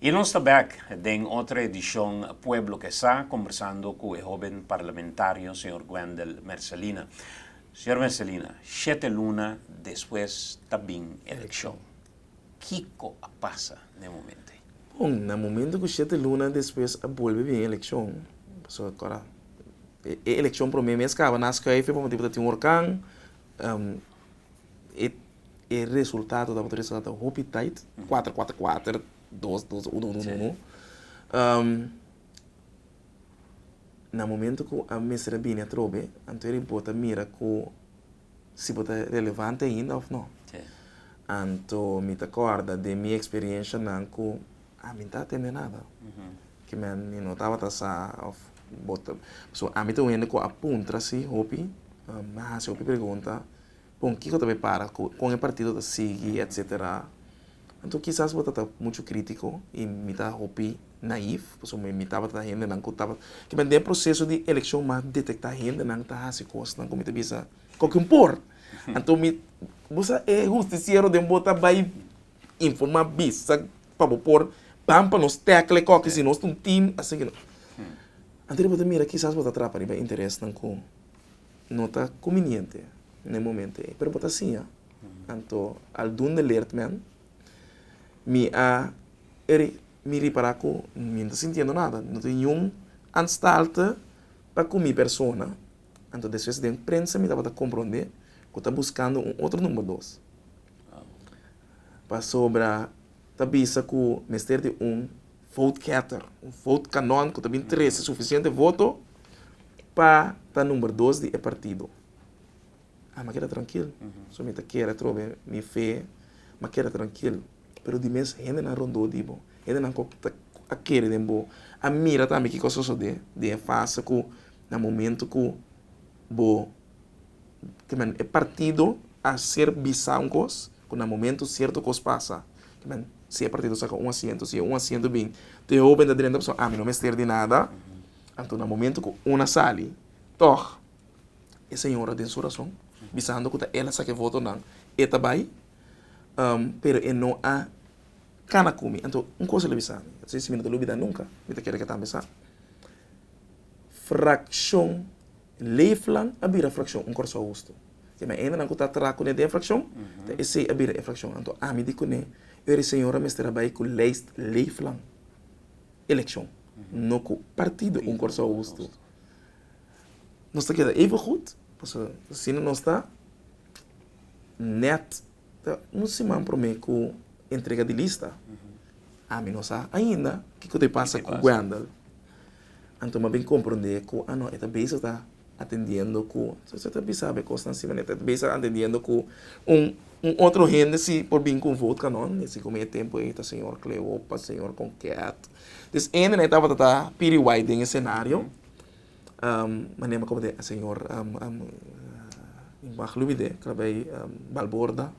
Y nos ta back den otro edicion Pueblo ke sa, combersando cu e hoben parlamentario señor Wendel Mercelina. Señor Mercelina, shete luna despues ta bin eleccion. Kico a pasa na e momento ey? Bon, na momento cu shete luna despues a bolbe bin eleccion, pasobra acuerda e eleccion prome mes caba na Schuifel, pa manera cu ta tin un horcan, E resultado ta mester a ta hopi tait, kuater kuater kuater, dos dos uno uno uno uno. Na momento ku a mester a bini atrobe anto e bo ta mira ku si bo ta relevante ainda òf nò. Anto mi ta kòrda den mi eksperienshanan ku. A mi ta tende nada ki men mi no tabata sa of bo ta so a mi ta un hende ku a puntra si hopi mi a hasi hopi pregunta kon kiko ta bai para kon e partido ta sigui etsetera anto kisas bo ta ta muchu kritiko i mi ta hopi naif pasobra mi mi tabata ta hendenan ku tabata kiba den proseso di elekshon mi a detekta hendenan ta hasi kosnan ku mi ta bisa koke un por anto mi bo sa e hustisiero den bo ta bai. informa bisa pa bo por ban pa nos tecla coki si nos ta un team asi ki nan. Antes di bo ta mira kisas bo ta trapa riba interesnan cu no ta cuminiente na e momento ey pero bo ta siña anto al dun de leert men mi a mi ripara cu mi no ta sintiendo nada no ta ningún anstalte pa cu mi persona anto despues den prensa mi tabata compronde cu ta buscando un otro number dos. Pasobra ta bisa ku mester di un vote getter, un vote kanon ku ta bin trese sufisiente voto pa ta number dos di e partido. A mi a keda trankil, so mi ta kere trobe mi fe, mi a keda trankil. Pero di mes hendenan rondó di bo, hendenan ku ta a kere den bo, a mira tambe kiko a sosodé den e fase ku na momentu ku bo. kimen, e partido a ser bisa un kos ku na momentu sierto kos pasa, kimen, si e partido saka un asiento, si e un asiento bin te hoben ta drenta pasobra ami no mester di nada, anto na momentu ku un a sali tòg e señora den su rason bisando ku ta el a saka e votonan e ta bai, pero e no a kana ku mi, anto un kos el a bisa mi, si mi no ta lo bida nunka mi ta keda ke tambe sa frakshon. Leefland a bira frakshon un Kòrsou Hustu. Te na endenan ku ta tra kuné den frakshon, ta esei a bira e frakshon. Anto ami di kuné Eur e señor a mester a bai ku lèist Leefland elekshon, no ku partido un Kòrsou Hustu. Nos ta keda even gud, pasobra asina nos ta nèt. Ta un siman promé ku entrega di lista. Ami no sa ainda kiko ta e pasa ku Wendell. Anto m'a bin komprondé ku a no e ta bezig ta atendiendo ku so se ta bisa bo e kosnan si manera. E ta bezig ta atendiendo ku un un otro hende si por bin ku un vote kanon i si kome e tempu ei ta señor Cleopa, señor Conquet. Enden'é tabata ta piriwai den e senario. manera como e señor Max lo bid'e ta bay Balborda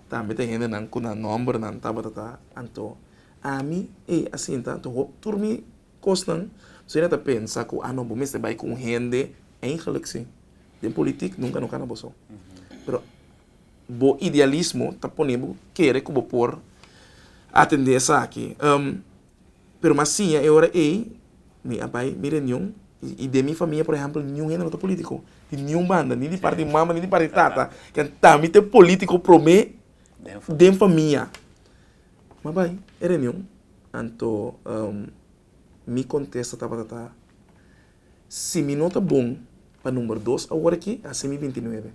tambe ta hendenan cu nan nombernan tabata ta anto ami ey asinta anto hopi tur mi cosnan si no ta pensa cu a no bo mester bay con hende eindelijk si den politic nunca no cana bo so pero bo idealismo ta pone bo kere cu bo por atende esaki. Pero m'a siña e ora ei, mi a bai mi reunion, i den mi famia, por ehèmpel, niun hende no ta polítiko, di niun banda, ni di parti di mama, ni di parti di tata, kanta mi ta e polítiko promé den famia? M'a bai e reunion, anto mi kontesta tabata ta, si mi no ta bon pa number dos awor aki, a hasi mi binti nuebe.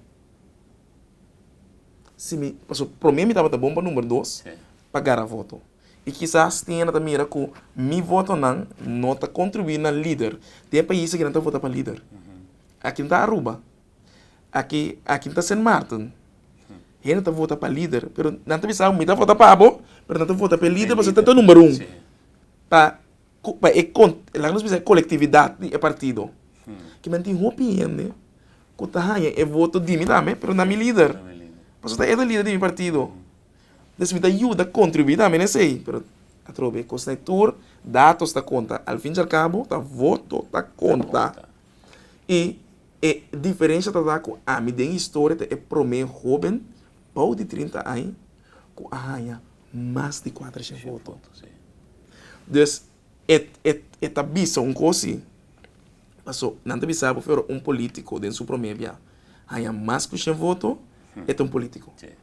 Si mi, pasobra promé mi tabata bon pa number dos pa gara voto. I kisas tin e na ta mira ku mi votonan no ta kontribuí na lider. Tin e pais aki nan ta vota pa lider. Aki no ta Aruba. Aki, aki no ta Sint Maarten. Hende ta vota pa lider, pero nan ta bisa abo, mi ta vota pa abo, pero nan ta vota pa e lider pasobra e ta number un. Pa ku, pa e kon, laga nos bisa e kolektividat di e partido. Kimen tin hopi hende ku ta haña e voto di mi tambe, pero na mi lider. Pasobra e ta lider di mi partido. Entonces mi ta yuda contribuí tambe na esey pero atrobe cos na e tur datos ta conta al fin y al cabo ta voto ta conta y e diferencia ta ta cu ami den historia ta e prome hoben bao di trinta aña cu a haya mas di cuatrociento voto dus e ta bisa un cos si paso nan ta bisa bo aver un politico den su prome bia haya mas cu cien voto e ta un politico.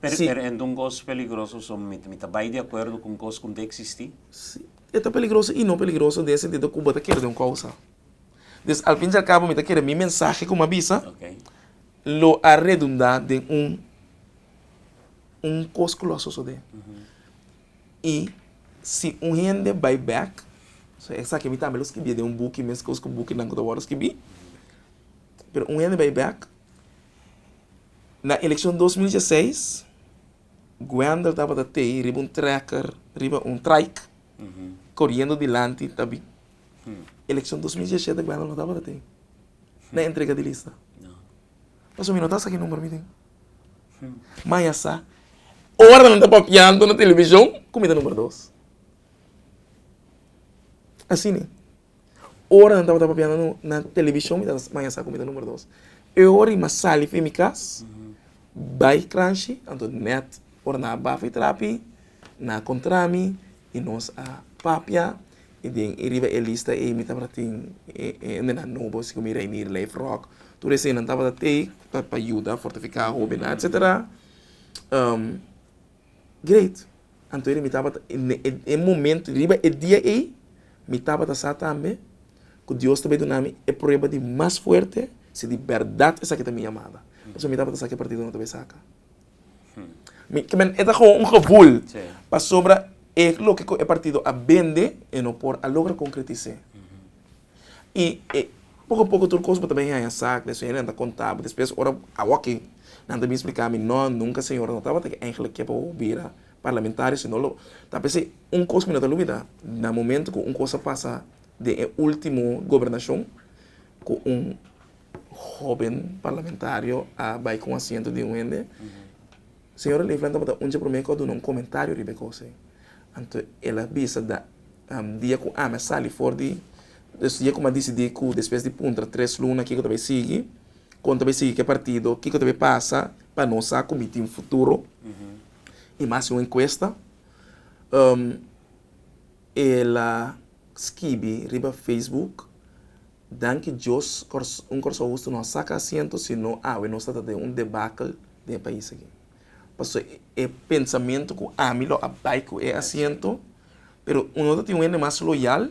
Pero ento un cos peligroso so mi ta bay di acuerdo cu un cos cu no ta existi? Si, e ta peligroso y no peligroso den e sentido cu bo ta kere den un causa. Pues al fin y al cabo mi ta kere mi mensahe cu mi a bisa lo a redunda den un un cos cu lo a sosode. Y si un hende bay back, so esaki mi tambe lo scribie den un buki, mes cos cu bukinan cu ta worde scribi, pero un hende bay back Na elekshon dos mil dieseis, Guender tabata tei riba un trekker riba un traik, koriendo dilanti ta bi. Elekshon dos mil diesete Guender no tabata tei na entrega di lista. Pasobra mi no ta sa ki numero mi tin. Ma ya sa, ora nan ta papiando na televishon ku mi ta numero dos. Asina Ora nan tabata papiando na television mi ta maña sa kumida numero dos. E ora i mas sali fen mi kas bai cranshi anto nèt ora nan a bafa e trapi nan a kontra mi i nos a papia i den e riba e lista ei mi tabata tin e hende nan nobo si komo Reinier Leif Rock tur esei nan tabata tei pa yuda fortifiká hobennan etsetera. Great. Anto iri mi tabata e momento riba e dia ei mi tabata sa tambe ku Dios ta bai duna mi e prueba di mas fuerte si di bèrdat esaki ta mi yamada. Pasobra mi tabata sa ku e partido no ta bai saka. Mi kimin e ta komo un gevul pasobra e loke ku e partido a bende e no por a logra konkretis'é. i e poko poko tur kos bo ta bin haña sa ku e señor nan ta konta bo despues ora a wòkking nan ta bin spliká mi nò nunka e señor nan no tabata ke Angela ke pa wou bira parlamentario sino lo ta p'esei un kos ku mi no ta lubidá na momento ku un kos a pasa den e último gobernashon ku un hóben parlamentario a bai ku un asiento di un hende Señora Livland tabata un dje promé ku a duna un komentario riba e kos ei. Anto el a bisa, Da, dia ku ami a sali for di, des dia ku mi a disidí ku despues di puntra tres luna kiko ta bai sigui, kon ta bai sigui ku e partido, kiko ta bai pasa, pa nos sa ku mi tin futuro, i mi a hasi un enkuesta, el a skibi riba Facebook. Danki Dios un Corsou Husto no a saca asiento si no awe nos ta ta den un debacle den e pais aki. Paso e pensamento cu ami lo a bay cu e asiento pero uno ta tin un hende mas loyal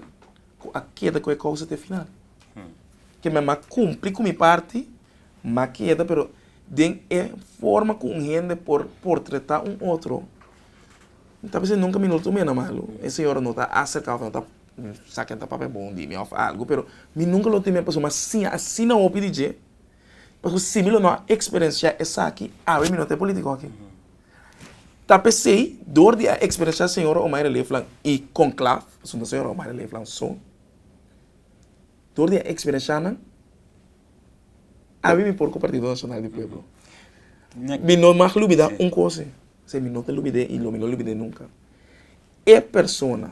cu a keda cu e causa te final. Ke mi a mas cumpli cu mi parti ma keda pero den e forma cu un hende por portreta un otro mi ta bisa nunca mi no lo tin un hende malo. E señora no ta acerca of no ta Mi sa ken ta papia bon di mi òf algu, pero mi nunka lo teme pasobra mi a siña asina hopi di dje. Pasobra si mi lo no a eksperensiá esaki, awe mi no ta e polítiko akí. Ta p'esei, dor di a eksperensiá señora Omaira Leefland i Conclaf, pasobra no señora Omaira Leefland so, dor di a eksperensiá nan, awe mi por ku Partido Nacional di Pueblo. Mi no mag lubidá un kos ei, mi no ta lubid'é i lo mi no lubid'é nunka, e persona.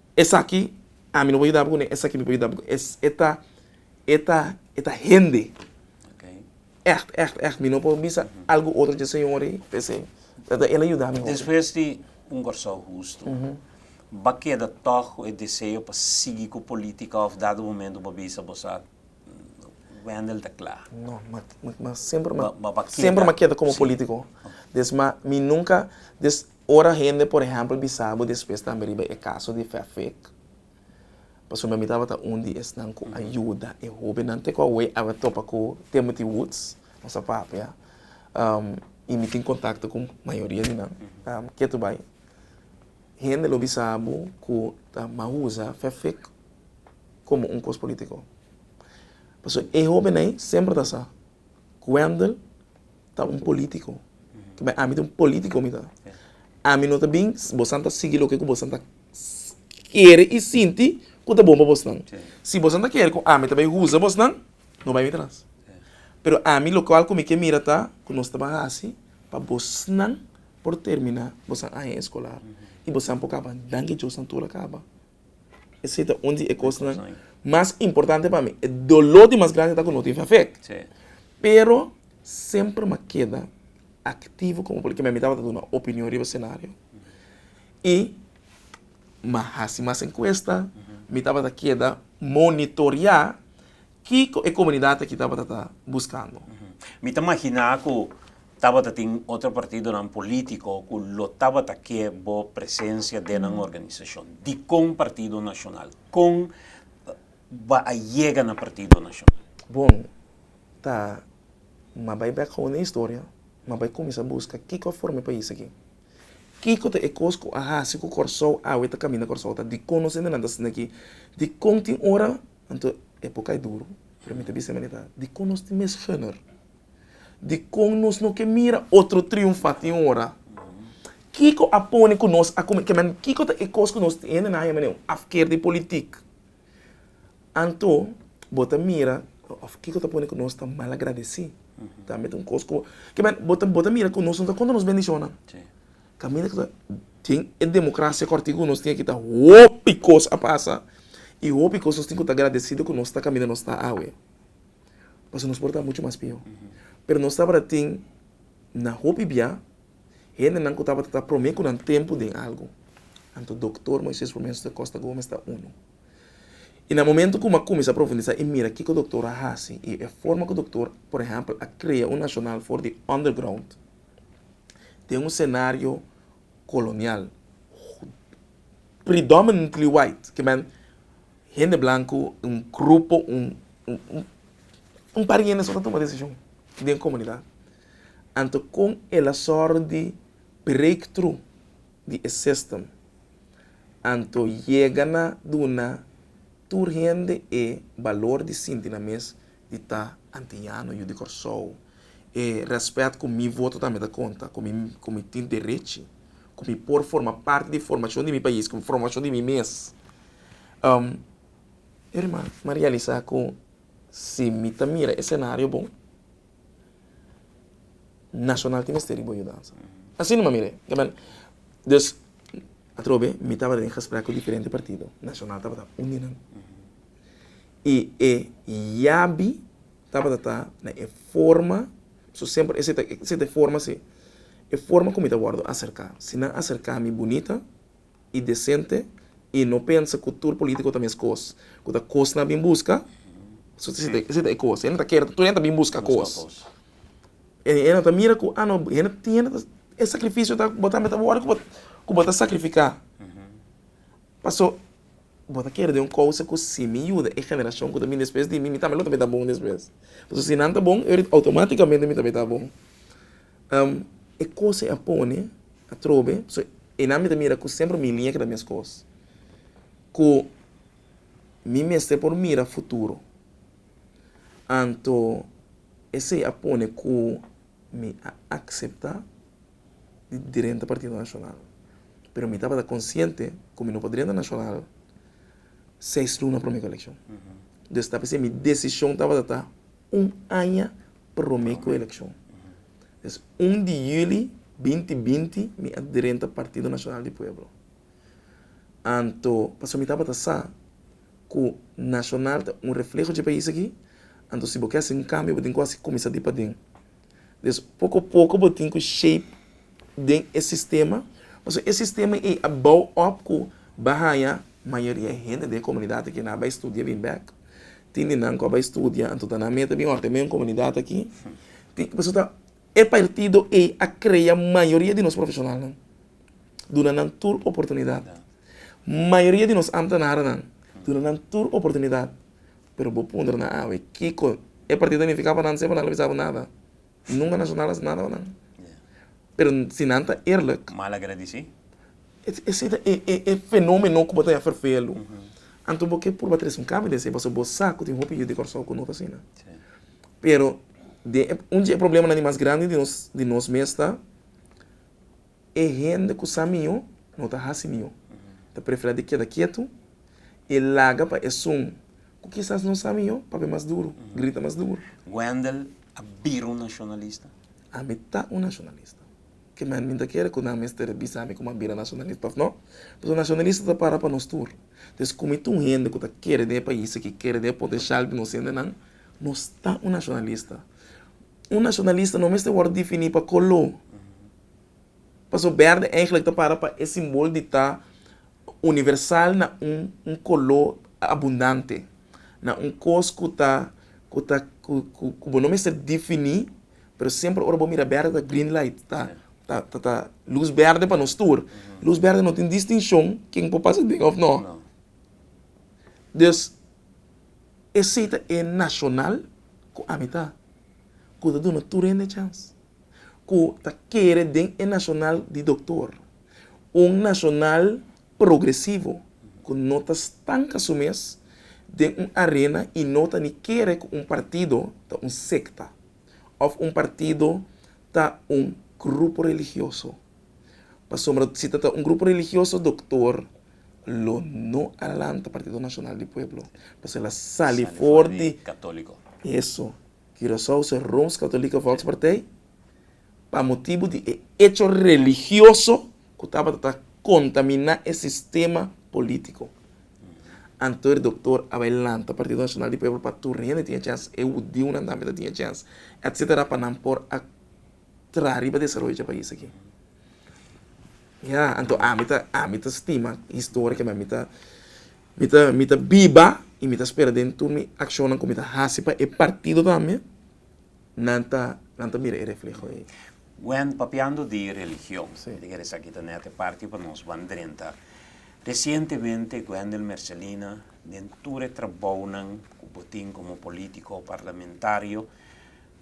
Esaki ami no por yuda bo ni esaki mi por yuda bo. Es e ta e ta e ta hende ègt ègt ègt mi no por bisa algu otro dje señor ei p'esei ta el a yuda mi hopi. Despues di un Kòrsou hustu bo a keda tòg ku e deseo pa sigui ku polítika òf dado momento bo a bisa bo sa Wendel ta kla? No, mi mi mi semper mi semper mi a keda komo polítiko. Des mi nunka des Ora hende por ehèmpel bisa bo despues tambe riba e kaso di Fefik, pasobra mi tabata un di esnan ku a yuda e hóbennan te ku awor a wòrdu topa ku Timothy Woods, nos a papia, i mi tin kontakto ku mayoria di nan. Ke ta bai? Hende lo bisa bo ku ta maba usa Fefik komo un kos polítiko. Pasobra e hóbennan ei semper ta sa, Wendel ta un politico kiba ami ta un politico mi ta ami no ta bin bosan ta sigui loke ku bosan ta kere i sinti ku ta bon pa bosnan si bosan ta kere ku ami ta bai huza bosnan no bai mi tras pero ami lokual ku mi ke mira ta ku nos ta ban hasi pa bosnan por termina bosan aña eskolar i bosan por kaba nan ke diosnan tur a kaba. Esei ta un di e kosnan mas importante pa mi. E doló di mas grandi ta ku no tin fe afet. Pero semper m'a keda aktivo komo polítiku, mi tabata duna opinion riba senario i m'a hasi mas enkuesta, mi tabata keda monitoriá kiko e komunidat aki tabata ta buskando. Mi ta maginá ku tabata tin otro partidonan polítiko ku lo tabata ke bo presensia den nan organisashon. Dikon Partido Nashonal? Kon bo a yega na Partido Nashonal? Bon, ta mi a bai bèk gou na e historia, mi a bai kuminsá buska kiko a forma e pais aki. Kiko ta e kos ku a hasi ku Kòrsou awe ta kaminda Kòrsou ta? Dikon nos hendenan ta sinti aki? Dikon tin ora Anto e por kai duru, pero mi ta bisa men e ta, dikon nos tin mes honger? Dikon nos no ke mira otro triunfa tin un ora? Kiko a pone ku nos a kuminsá, kiman kiko ta e kos ku nos tin? Hende nan a yama nan afker di politik. Anto bo ta mira òf kiko ta pone ku nos ta malagradesí? Tambe ta un kos ku, kiman bo ta mira ku nos no ta konta nos bendishonnan. Caminda cu ta den e democracia Cortico nos tin aki ta hopi cos a pasa y hopi cos nos tin cu ta agradecido cu nos ta caminda nos ta awe. Pasobra nos por ta mucho mas peor. Pero nos tabata tin na hopi bia hendenan cu tabata ta prome cu nan tempo den algo. Anto Doctor Moises Romenzo da Costa Gomez ta uno. Y na momento cu mi a cuminsa profundisa y mira kico Doctor a haci y e forma cu Doctor, por ehempel, a crea un Nacional for di Underground, den un senario kolonial predominantly white, ke men hende blanku, un grupo, un un par hende so ta tuma desishon den komunidat. Anto kon e la sòru di break tru di e sistem? Anto yega na duna tur hende e balor di sinti nan mes Di ta antiñano yu di Kòrsou. E rèspèt ku mi voto tambe ta konta, ku mi ku mi tin derechi, ku mi por forma parti di formashon di mi pais, ku formashon di mi mes. Irma, m'a realisá ku si mi ta mira e senario bon, nashonal tin mester riba un yudansa. Asina no m'a mir'é. Dus, atrobe mi tabata den gespreknan ku diferente partido. Nashonal tabata uninan. I e yabi tabata ta na e forma, so semper esei ta esei ta e forma si, e forma ku mi ta wòrdu aserká. Si nan aserká mi bunita i desente i no pensa ku tur polítiko ta meskos, ku ta kos nan bin buska, so esei ta esei ta e kos. E nan ta kere tur hende ta bin buska kos. E e nan ta mira ku, a no, hende hende ta e sakrifisio ta bo tambe ta wòrdu ku bo ku bo ta sakrifiká. Paso. Bo ta kere den un kousa ku si mi yuda e generashon ku ta bini despues di mi, mi tambe lo ta beta bon despues. Pasobra si nan ta bon, e orit outomátikamente mi ta beta bon. E kos ei a pone atrobe, so einan mi ta mira ku semper mi liña keda meskos, ku mi mester por mira futuro. Anto esei a pone ku mi a akseptá. di drenta Partido Nacional. Pero mi tabata consciente cu mi no por drenta Nacional seis luna prome cu eleccion. Entonces esta p'e ser mi decision tabata ta un aña prome cu eleccion. Entonces un di juli binti binti mi a drenta Partido Nacional di Pueblo. Anto pasobra mi tabata sa cu Nacional ta un reflejo dje pais aki, anto si bo ke haci un cambio bo tin cu haci cuminsa di paden. Des poko poko bo tin ku shape den e sistema, pasobra e sistema ei a bou òp ku bo haña mayoria hende den e komunidat aki nan a bai studia bin bèk, tin di nan ku a bai studia anto ta nan mei ta bin wòrdu mei un komunidat aki, tin pasobra ta e partido ei a krea mayoria di nos profeshonalnan, duna nan tur oportunidat, mayoria di nos amtenarnan duna nan tur oportunidat Pero bo pondra nan awe kiko e partido ta nifiká pa nan sey pa nan lo bisa bo nada. Nunka Nacional a hasi nada pa nan. Pero si nan ta eerlijk. Malagradisí. Esei ta e e e fenómeno ku bo ta ya fervelu. Anto bo ke purba tres un kambio di esei pasobra bo sa ku tin hopi yu di Kòrsou ku no ta asina. Pero den e un di e problemanan di mas grandi di nos di nos mes ta. E hende ku sa mihó no ta hasi mihó. Ta preferá di keda ketu i laga pa esun ku kisas no sa mihó papia mas duru, grita mas duru. Wendel a bira un nashonalista? Ami ta un nashonalista. Ke men mi ta kere ku nan mester a bisa mi ku mi a bira nashonalista òf no? Pasobra nashonalista ta para pa nos tur. Entonces ku mi ta un hende ku ta kere di e pais aki, kere di e potenshal di nos hendenan, nos ta un nashonalista. Un nashonalista no mester wòrdu difiní pa koló. Paso bèrdè eigenlik ta para pa e simbol di ta universal na un un koló abundante, na un kos ku ta ku ta ku ku ku bo no mester difiní, pero semper ora bo mira bèrdè ta green light, ta ta ta ta lus bèrdè pa nos tur. Lus bèrdè no tin distinshon ken por pasa den òf nò. Dus, esei ta e nashonal ku ami ta ku ta duna tur hende chans. ku ta kere den e Nacional di Doktor, un nacional progresivo ku no ta stanka su mes den un arena i no ta ni kere ku un partido ta un sekta òf un partido ta un grupo religioso. Pasobra si ta ta un grupo religioso Doktor lo no a lanta Partido Nacional di Pueblo, pasobra el a sali for di eso. Curaçao se Rooms-Katolike Volkspartij pa motibu di e echo religioso ku tabata ta kontaminá e sistema polítiko. Anto e doktor a bai lanta Partido Nacional di Pueblo pa tur hende tin e chèns, e hudiunan tambe ta tin e chèns, etcétera pa nan por a traha riba desaroyo dje pais aki. Ya, anto ami ta, ami ta stima historia, kende ami ta. Mi ta mi ta biba y mi ta spera den tur mi accionnan cu mi ta haci pa e partido tambe, nan ta nan ta mira e refleho ey. Wen, papiando di religion, mi ta kere esaki ta net e parti pa nos ban drenta. Recientemente Wendel Mercelina den tur e trabounan cu bo tin como politico, parlamentario,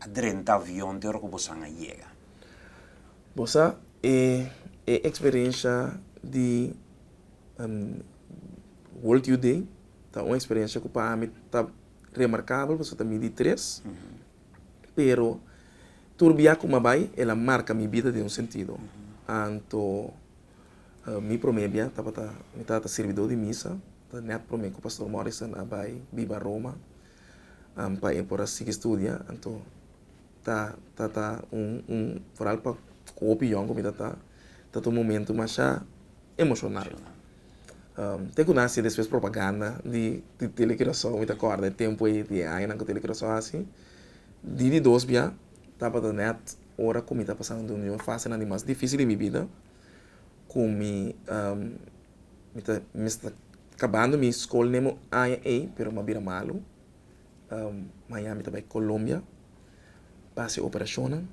a drenta avion te ora ku bosan a yega. Bo sa e e eksperensha di World Youth Day ta un eksperensha ku pa ami ta remarkabel pasobra ta midi tres, pero tur bia ku mi a bai el a marka mi bida den un sentido. Anto mi promé bia tabata mi tata sirbidó di misa, ta nèt promé ku Pastor Morrison a bai biba Roma. Am pa e por a sigui studia anto ta ta ta un un foral pa ku hopi yòn ku mi ta ta ta ta un momentu masha emoshonal te ku nan a hasi despues propaganda di di tele kurason mi ta kòrda e tempu ei di e añanan ku tele kurason a hasi di di dos bia tabata nèt ora ku mi ta pasa un di un di un fase nan di mas difísil di mi bida ku mi. Mi ta mester kabando mi skol nemo aña ei, pero mi a bira malu. Mañana mi ta bai Colombia pa hasi operashonnan.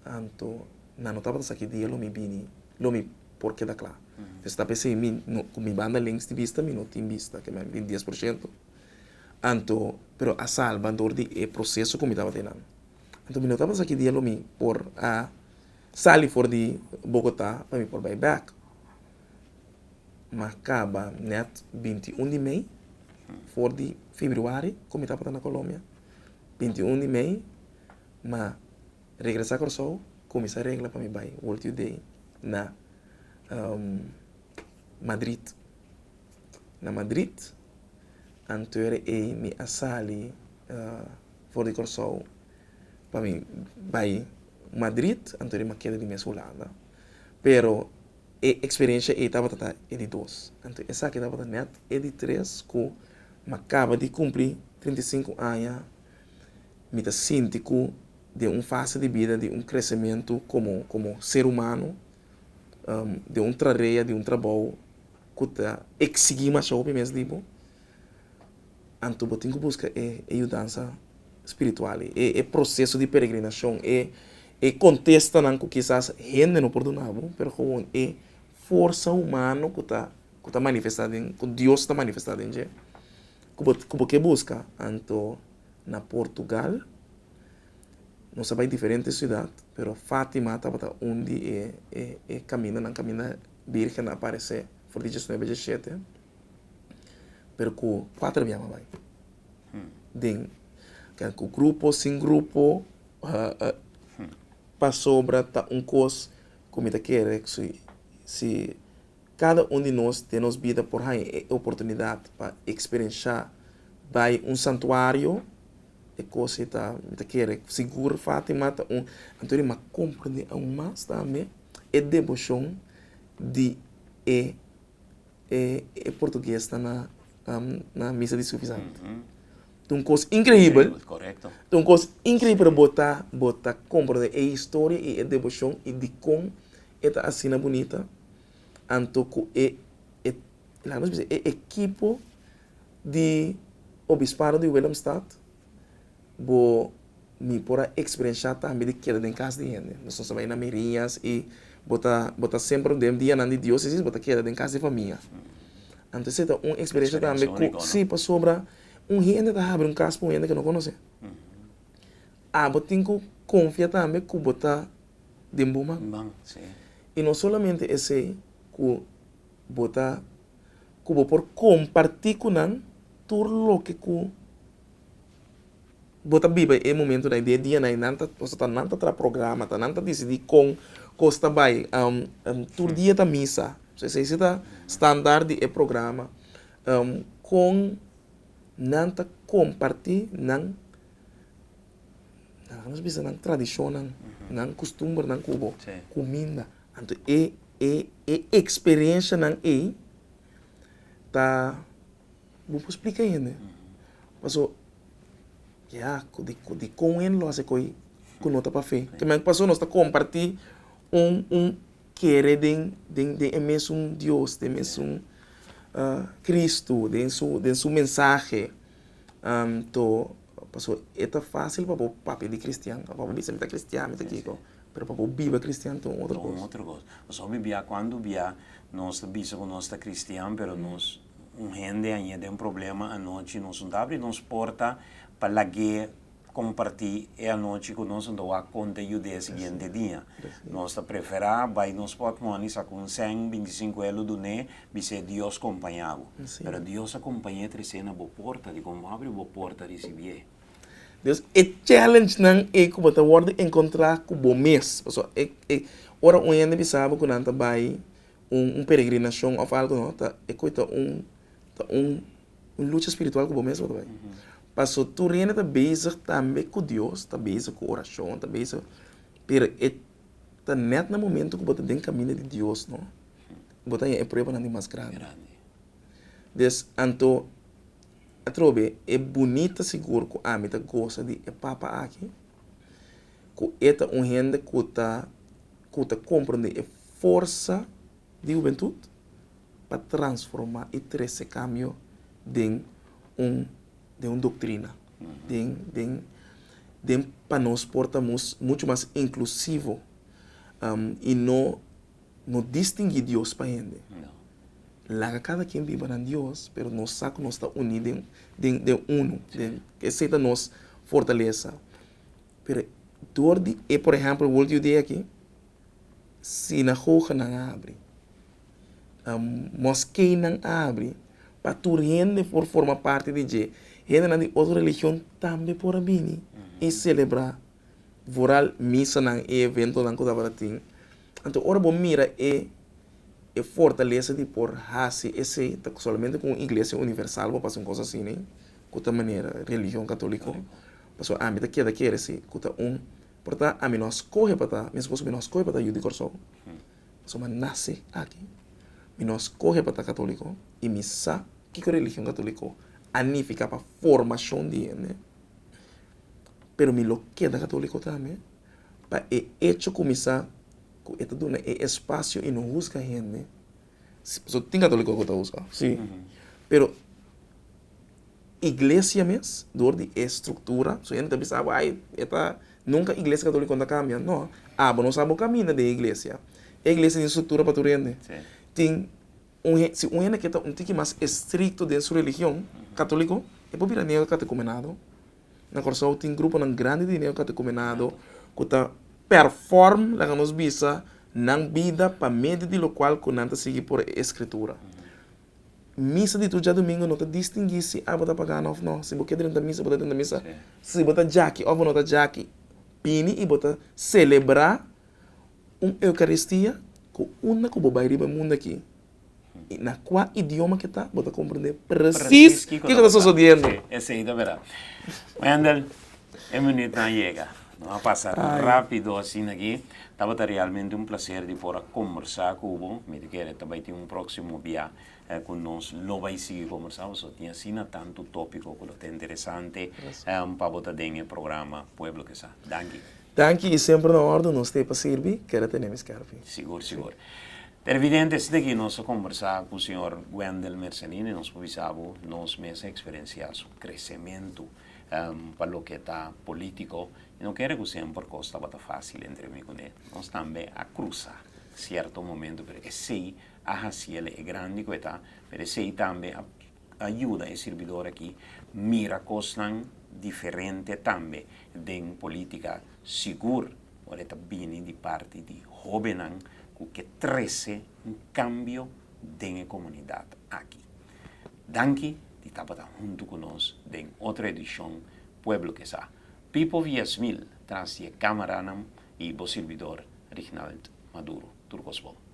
Anto nan no tabata sa ki dia lo mi bini, lo mi por keda kla. Pues ta p'esei mi no, ku mi banda lens di bista mi no tin bista, ke mi a bin dies por shento. Anto, pero a salba dor di e proseso ku mi tabata ei nan. Anto mi no tabata sa ki dia lo mi por a sali for di Bogota pa mi por bai bèk. Ma kaba nèt binti i un di mei for di fibruari ku mi tabata na Colombia. Binti i un di mei ma regresá Kòrsou ku mi sa regla pa mi bai World Youth Day na Madrid. Na Madrid anto era ei mi a sali for di Kòrsou pa mi bai Madrid anto mi a keda di mes Hulanda pero. E eksperensia ei tabata ta e di dos. Anto esaki tabata nèt e di tres ku mi a kaba di kumpli trinta i sinku aña. Mi ta sinti ku den un fase di bida di un kresementu komo komo ser humano, den un trarea di un trabou ku ta eksigí masha hopi mes di bo, Anto bo tin ku buska e yudansa spiritual ei, e e proseso di peregrinashon, e e kontestanan ku kisas hende no por duna bo, pero gewoon e forsa humano ku ta ku ta manifestá den ku Dios ta manifestá den dje ku bo ku bo ke buska. Anto na Portugal nos a bai diferente siudat, pero Fátima tabata un di e e e kamindanan kaminda Bírgennan a aparesé for di djesnuebe djeshete. pero ku kuater mi ama bai den ke ku grupo o sin grupo pasobra ta un kos ku mi ta kere si kada un di nos den nos bida por haña e oportunidat pa eksperenshá bai un santuario e kos ei ta mi ta kere sigur Fatima ta un anto ri mi a komprende aun mas tambe e deboshon di e. e portugues ta na na misa di sufisanti. Ta un kos inkreibel. Korekto. Ta un kos inkreibel pero bo ta bo ta komprende e historia i e devoshon i dikon e ta asina bunita anto ku e e laga nos bisa e ekipo di obispado di Willemstad bo. Mi por a eksperensiá tambe di keda den kas di hende. Nos ta bai na mirias i bo ta bo ta semper den dianan di diósesis bo ta keda den kas di famia. Anto esei ta un eksperensia tambe ku si pasobra un hende ta habri un kas pa un hende ku no konosé. A bo tin ku konfia tambe ku bo ta den bon man. I no solamente esei ku bo ta ku bo por kompartí ku nan tur loke ku. Bo ta biba e momentunan, e dianan, nan ta nos ta ta, nan ta traha programa, ta nan ta disidí kon kos ta bai. Tur dia ta misa, so esei si ta standaard di e programa. Kon nan ta kompartí nan, nan a haña nos bisa nan tradishonnan, nan kustumbernan ku bo, kuminda. Anto e e e eksperenshanan ei ta. Bo por splica hende paso ya dicon hende lo hace coye cu no ta pa fe. Kiman cu paso nos ta comparti un kere den e mesun Dios, den e mesun Cristo, den su mensahe. Anto paso e ta facil pa bo papia di cristian, pa bo bisa mi ta cristian, mi ta kico, pero pa bo biba cristian ta un otro cos. Pasobra bia cuandu bia nos ta bisa cu nos ta cristian pero nos Un hende a ña den problema anochi, nos no ta abri nos porta pa lag'é kompartí e anochi ku nos, anto wak konta e yud'é e siguiente dia. Nos ta preferá bai nos pòt mòni saka un sèn, binti sinku elu dun'é, bis'é Dios kompañá bo. Pero Dios a kompañ'é tres'é na bo porta, dikon bo abri bo porta risibi'é? Des e challenge-nan ei ku bo ta wòrdu enkontrá ku bo mes. Pasobra e, e, ora un hende bisa bo ku nan ta bai Un un peregrinashon òf algu nò, ta e kue ta un ta un un lucha spiritual ku bo mes bo ta bai. Paso tur hende ta bezig tambe ku Dios, ta bezig ku orashon, ta bezig pero e ta nèt na momentu ku bo ta den kaminda di Dios nò bo ta haña e pruebanan di mas grandi. Des anto atrobe e bunita sigur ku ami ta gosa di e Papa aki. ku e ta un hende ku ta ku ta komprendé e forsa di hubentut pa transformá i trese kambio den un den un doktrina, den den den pa nos por ta mus muchu mas inklusivo i no. No distingui Dios pa hende. Laga cada quien biba nan Dios, pero nos sa cu nos ta uni den den den uno, den esey ta nos fortaleza. Pero dor di e por ehemplo e world youth day aki sinagoganan a abri, moskenan a abri pa tur hende por forma parti di dje, hendenan di otro religion tambe por a bini y celebra. vooral misanan e eventonan ku tabata tin. Anto ora bo mira e e fortalesa di por hasi esei ta solamente ku un iglesia universal bo pasa un kos asina ku ta manera religion katoliko pasobra ami ta keda kere si ku ta un por ta ami no a skohe pa ta meskos mi no a skohe pa ta yu di Kòrsou pasobra mi a nase aki mi no a skohe pa ta katoliko i mi sa kiko religion katoliko a nifika pa formashon di hende. pero mi lo keda católico tambe pa e hecho cu mi sa cu e ta duna e espacio y no huzga hende, pasobra tin católico cu ta huzga, si, pero iglesia mes dor di e structura, so hende ta bisa abo ay e ta, nunca iglesia católico no ta cambia, no, abo nos abo caminda den e iglesia, e iglesia tin structura pa tur hende, tin Un hen, si un hende ke ta un tiki mas estrikto den su religion, katoliko, e por bira neokatekumenado. Na Kòrsou tin gruponan grandi di neokatekumenado ku ta perform, laga nos bisa, nan bida pa medio di lokual ku nan ta sigui por e eskritura. Misa di tur djadumingu no ta distinguí si abo ta pagano òf no. Si bo ke drenta misa, bo ta drenta misa. Si bo ta djaki òf bo no ta djaki, bini i bo ta selebrá. Un Eukaristia ku unda ku bo bai riba e mundu aki i na kua idioma ke ta, bo ta komprendé presis kiko ta sosodiendo. Sí, esei ta bera. Mendel, e minutnan a yega. Nos a pasa rápido asina aki. Tabata realmente un plaser di por a kombersá ku bo. Mi ta kere ta bai tin un próksimo biá eh, cu nos lo bay sigui combersa cu so. Tin asina tanto topico cu lo ta interesante, eh, pa bo ta den e programa Pueblo que sa. Danki. Danki y semper na orde nos stay pa sirbi, keda tene mi skerpi. Sigur, sigur. Televidente, esaki taki nos a combersa cu señor Wendel Mercelini, nos por bisa bo, nos mes a experencia su crecemento, eh, pa loke ta politico y no kere cu semper cos tabata facil entre mi cune. Nos tambe a crusa cierto momento pero esey, a hasi el e grandi ku e ta, pero esei tambe a a yuda e sirbidor aki mira kosnan diferente tambe den polítika sigur ora e ta bini di parti di hóbennan ku ke trese un kambio den e komunidat aki. Danki di tabata huntu ku nos den otro edishon Pueblo ke sa. Pipo Viasmil tras di e kámaranan i bo sirbidor Rignald Maduro. Tur kos bon.